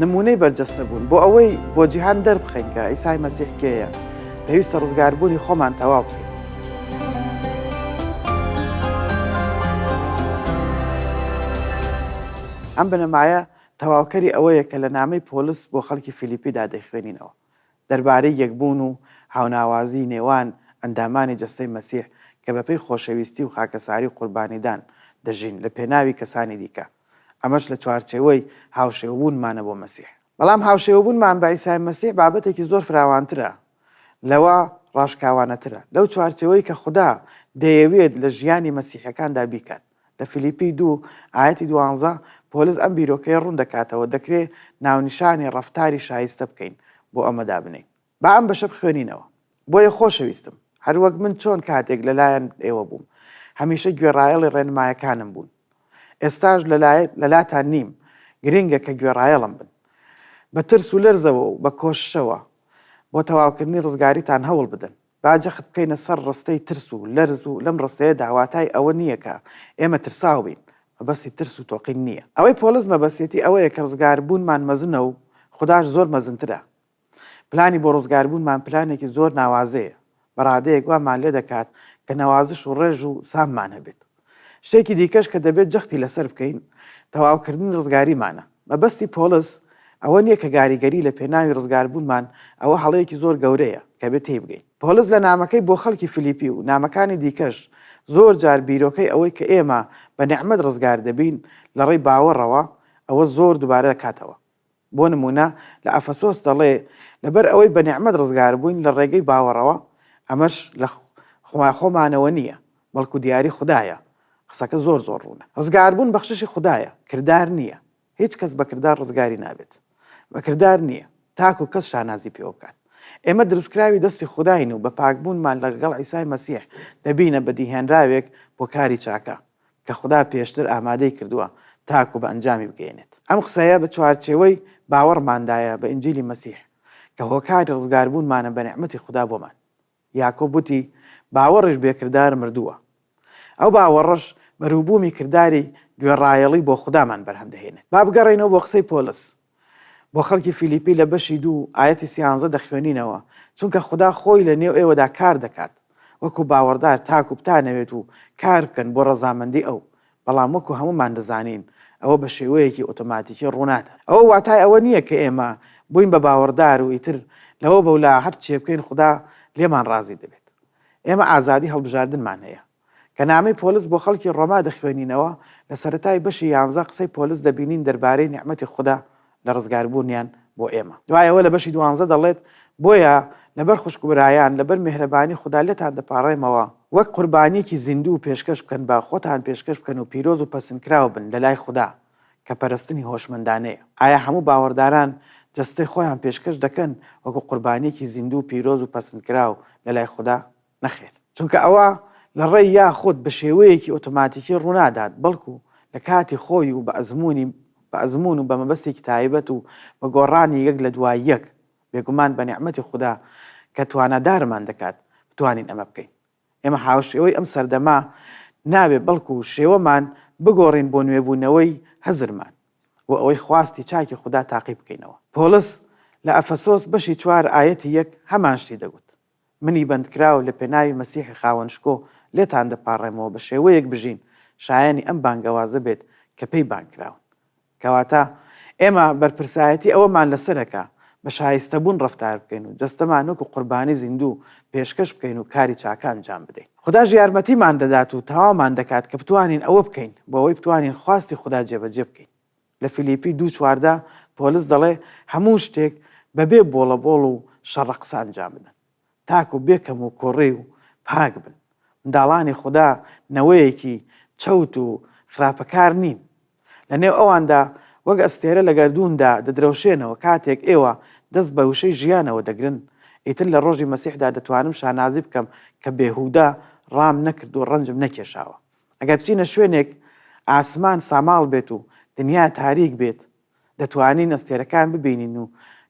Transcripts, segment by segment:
نموونەی بەرجەستە بوون بۆ ئەوەی بۆ جیهان دەربخەین کە ئیسای مەسیحکەیە پێویستە ڕزگاربوونی خۆمان تەواو بکەین ئەم بنەمایە تەواوکەری ئەوەیە کە لە نامەی پۆلس بۆ خەڵکی فیلیپیدا دەیخوێنینەوە دەربارەی یەکبوون و هاوناوازیی نێوان ئەندامانی جەستەی مەسیح کە بەپێی خۆشەویستی و خاکەساری و قوربانیدان دەژین لە پێناوی کەسانی دیکە، ئەمەش لە چوارچێوەی هاوشێوەبوونمانە بۆ مەسیح. بەڵام هاوشێوەبوونمان بە عیسای مەسیح بابەتێکی زۆر فراوانترە لەوە، ڕاشکاوانەترە لەو چوارچێوەی کە خودا دەیەوێت لە ژیانی مەسیحییەکاندا بیکات. لە فلیپی دوو ئایەتی دوانزە پۆلس ئەم بیرۆکەیە ڕوون دەکاتەوە دەکرێ ناونیشانی ڕەفتاری شایستە بکەین بۆ ئەمە دابنێین. با ئەم بەشە بخوێنینەوە. بۆیە خۆشەویستم، هەر وەک من چۆن کاتێک لە لایەن ئێوە بووم، هەمیشە گوێڕایەڵی ڕێنمایەکانم بوون، ئێستاش لە لە لاتان نیم، گرنگە کە گوێڕایەڵم بن. بە ترس و لەرزەوە و بە کۆششەوە بۆ تەواوکردنی ڕزگاریتان هەوڵ بدەن. با جەخت بکەینە سەر ڕستەی ترس و لەرز و لەم ڕستەیەدا واتای ئەوە نییە کە ئێمە ترساو بین، مەبەستی ترس و تۆقین نییە. ئەوەی پۆلس مەبەستیەتی ئەوەیە کە ڕزگاربوونمان مەزنە و خوداش زۆر مەزنترە. پلانی بۆ ڕزگاربوونمان پلانێکی زۆر ناوازەیە، بە ڕادەیەک وامان لێ دەکات کە نەوازش و ڕێژ و ساممان هەبێت. شتێکی دیکەش کە دەبێت جەختی لەسەر بکەین، تەواوکردنی ڕزگاریمانە. مەبەستی پۆڵس ئەوە نییە کە گاریگەری لە پێناوی ڕزگاربوونمان، ئەوە هەڵەیەکی زۆر گەورەیە کە بێت تێیبگەین. پۆڵس لە نامەکەی بۆ خەڵکی فیلیپی و نامەکانی دیکەش زۆر جار بیرۆکەی ئەوەی کە ئێمە بە نیعمەت ڕزگار دەبین لەڕێی باوەڕەوە، ئەوە زۆر دووبارە دەکاتەوە. بۆ نموونە لە ئەفەسۆس دەڵێ، لەبەر ئەوەی بە نیعمەت ڕزگار بووین لە ڕێگەی باوەڕەوە، ئەمەش لە خوای خۆمانەوە نییە، بەڵکو دیاری خودایە. قسەکە زۆر زۆر ڕوونە. ڕزگاربوون بەخششی خودایە، کردار نییە. هیچ کەس بە کردار ڕزگاری نابێت. بە کردار نییە، تاکو کەس شانازی پێوە بکات. ئێمە دروستکراوی دەستی خوداین و بە پاکبوونمان لەگەڵ عیسای مەسیح دەبینە بەدیهێنراوێک بۆ کاری چاکە. کە خودا پێشتر ئامادەی کردووە تاکو بە ئەنجامی بگەیەنێت. ئەم قسەیە بە چوارچێوەی باوەڕماندایە بە ئینجیلی مەسیح، کە هۆکاری ڕزگاربوونمانە بە نیعمەتی خودا بۆمان. یاکۆب وتی، باوەڕیش بێ کردار مردووە. ئەو باوەڕەش بەروبوومی کرداری گوێڕایەڵی بۆ خودامان بەرهەم دەهێنێت. با بگەڕێینەوە بۆ قسەی پۆلس. بۆ خەڵکی فیلیپی لە بەشی دوو ئایەتی سیانزە دەخوێنینەوە، چونکە خودا خۆی لە نێو ئێوەدا کار دەکات وەکو باوەڕدار تاکو بتانەوێت و کار بکەن بۆ ڕەزامەندی ئەو، بەڵام وەکو هەموومان دەزانین ئەوە بە شێوەیەکی ئۆتۆماتیکی ڕوونادات. ئەوە واتای ئەوە نییە کە ئێمە بووین بە باوەڕدار و ئیتر لەوە بەولا هەرچییەبکەین خودا لێمان ڕازی دەبێت. ئێمە ئازادی هەڵبژاردنمان هەیە. کە نامەی پۆلس بۆ خەڵکی ڕۆما دەخوێنینەوە، لە سەرەتای بەشی یانزە قسەی پۆلس دەبینین دەربارەی نیعمەتی خودا لە ڕزگاربوونیان بۆ ئێمە. دوای ئەوە لە بەشی دوانزە دەڵێت، بۆیە لەبەر خوشک و برایان، لەبەر میهرەبانی خودا لێتان دەپاڕێمەوە، وەک قوربانییەکی زیندوو پێشکەش بکەن، با خۆتان پێشکەش بکەن و پیرۆز و پەسندکراو بن لەلای خودا، کە پەرستنی هۆشمەندانەیە. ئایا هەموو باوەڕداران جەستەی خۆیان پێشکەش دەکەن وەکو قوربانییەکی زیندوو، پیرۆز و پەسندکراو لەلای خودا؟ نەخێر، چونکە ئەوە لە ڕێی یاخود بە شێوەیەکی ئۆتۆماتیکی ڕوونادات، بەڵکو لە کاتی خۆی و بە ئەزموونی بە ئەزموون و بە مەبەستێکی تایبەت و بە گۆڕانی یەک لە دوای یەک، بێگومان بە نیعمەتی خودا کە توانادارمان دەکات بتوانین ئەمە بکەین. ئێمە هاوشێوەی ئەم سەردەمە نابێت بەڵکو شێوەمان بگۆڕین بۆ نوێبوونەوەی هزرمان و ئەوەی خواستی چاکی خودا تاقی بکەینەوە. پۆڵس لە ئەفەسۆس بەشی چوار ئایەتی یەک هەمان شتی دەگوت. منی بەندکراو لە پێناوی مەسیحی خاوەن شکۆ لێتان دەپاڕێمەوە بە شێوەیەک بژین شایەنی ئەم بانگەوازە بێت کە پێی بانگ کراون. کەواتە ئێمە بەرپرسایەتی ئەوەمان لەسەرە کە بە شایستەبوون ڕەفتار بکەین و جەستەمان وەکو قوربانی زیندوو پێشکەش بکەین و کاری چاکە ئەنجام بدەین. خوداش یارمەتیمان دەدات و تەواومان دەکات کە بتوانین ئەوە بکەین بۆ ئەوەی بتوانین خواستی خودا جێبەجێ بکەین. لە فلیپی دوو چواردا پۆلس دەڵێ هەموو شتێک بە بێ بۆڵە بۆڵ و شەڕە قسە ئەنجام بدەن تاکو بێ کەم و کوڕی و پاک بن. منداڵانی خودا نەوەیەکی چەوت و خراپەکار نین. لە نێو ئەواندا وەک ئەستێرە لە گەردووندا دەدرەوشێنەوە کاتێک ئێوە دەست بە وشەی ژیانەوە دەگرن ئیتر لە ڕۆژی مەسیحدا دەتوانم شانازی بکەم کە بێهودە ڕام نەکرد و ڕەنجم نەکێشاوە. ئەگەر بچینە شوێنێک ئاسمان ساماڵ بێت و دنیا تاریک بێت، دەتوانین ئەستێرەکان ببینین و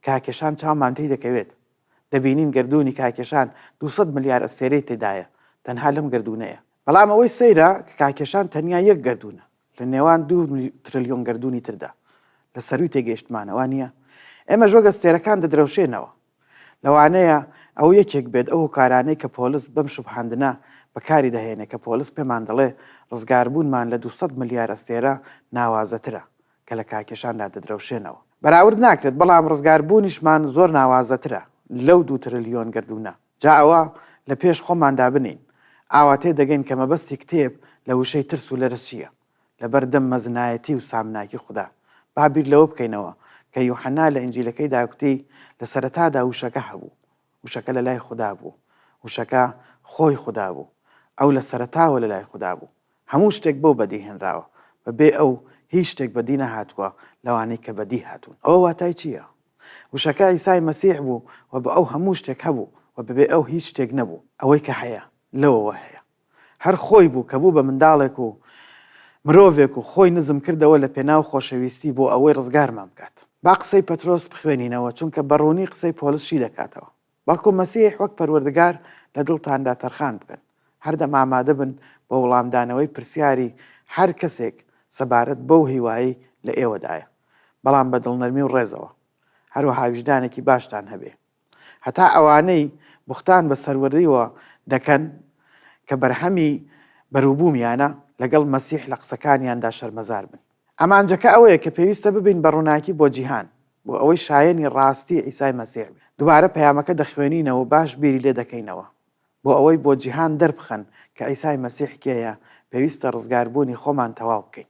کاکێشان چاومان پێی دەکەوێت. دەبینین گەردوونی کاکێشان دوو سەد ملیار ئەستێرەی تێدایە، تەنها لەم گەردوونەیە. بەڵام ئەوەی سەیرە کە کاکێشان تەنیا یەک گەردوونە لە نێوان دوو ترلیۆن گەردوونی تردا لە سەرووی تێگەیشتمانە، وا نییە؟ ئێمەش وەک ئەستێرەکان دەدرەوشێنەوە. لەوانەیە ئەوە یەکێک بێت ئەو هۆکارانەی کە پۆلس بەم شوبهاندنە بەکاری دەهێنێت کە پۆلس پێمان دەڵێ ڕزگاربوونمان لە دوو سەد ملیار ئەستێرە ناوازەترە کە لە کاکێشاندا دەدرەوشێنەوە. بەراورد ناکرێت، بەڵام ڕزگاربوونیشمان زۆر ناوازەترە لەو دوو ترلیۆن گەردوونە. جا ئەوە لە پێش خۆماندا بنێین، ئاوا تێدەگەین کە مەبەستی کتێب لە وشەی ترس و لەرز چییە. لەبەر دەم مەزنایەتی و سامناکی خودا. با بیر لەوە بکەینەوە کە یوحەنا لە ئینجیلەکەیدا کوتی، لە سەرەتادا وشەکە هەبوو. وشەکە لە لای خودا بوو. وشەکە خۆی خودا بوو. ئەو لە سەرەتاوە لە لای خودا بوو. هەموو شتێک بەو بەدی هێنراوە. بە بێ ئەو هیچ شتێک بەدی نەهاتووە لەوانەی کە بەدی هاتوون. ئەوە واتای چییە؟ وشەکە عیسای مەسیح بوو و بە ئەو هەموو شتێک هەبوو و بە بێ ئەو هیچ شتێک نەبوو. ئەوەی کە هەیە، لەوەوە هەیە. هەر خۆی بوو کە بوو بە منداڵێک و مرۆڤێک و خۆی نزم کردەوە لە پێناو خۆشەویستی بۆ ئەوەی ڕزگارمان بکات. با قسەی پەترۆس بخوێنینەوە چونکە بە ڕوونی قسەی پۆلس شی دەکاتەوە، بەڵکو مەسیح وەک پەروەردگار لە دڵتاندا تەرخان بکەن. هەردەم ئامادە بن بۆ وڵامدانەوەی پرسیاری هەر کەسێک سەبارەت بەو هیوایەی لە ئێوەدایە، بەڵام بە دڵنەرمی و ڕێزەوە. هەروەها ویژدانێکی باشتان هەبێ. هەتا ئەوانەی بوختان بە سەروەرییەوە دەکەن کە بەرهەمی بەروبوومیانە، لەگەڵ مەسیح لە قسەکانیاندا شەرمەزار بن. ئامانجەکە ئەوەیە کە پێویستە ببین بە ڕووناکی بۆ جیهان، بۆ ئەوەی شایەنی ڕاستی عیسای مەسیح بین. دووبارە پەیامەکە دەخوێنینەوە و باش بیری لێ دەکەینەوە. بۆ ئەوەی بۆ جیهان دەربخەن کە عیسای مەسیح کێیە، پێویستە ڕزگاربوونی خۆمان تەواو بکەین.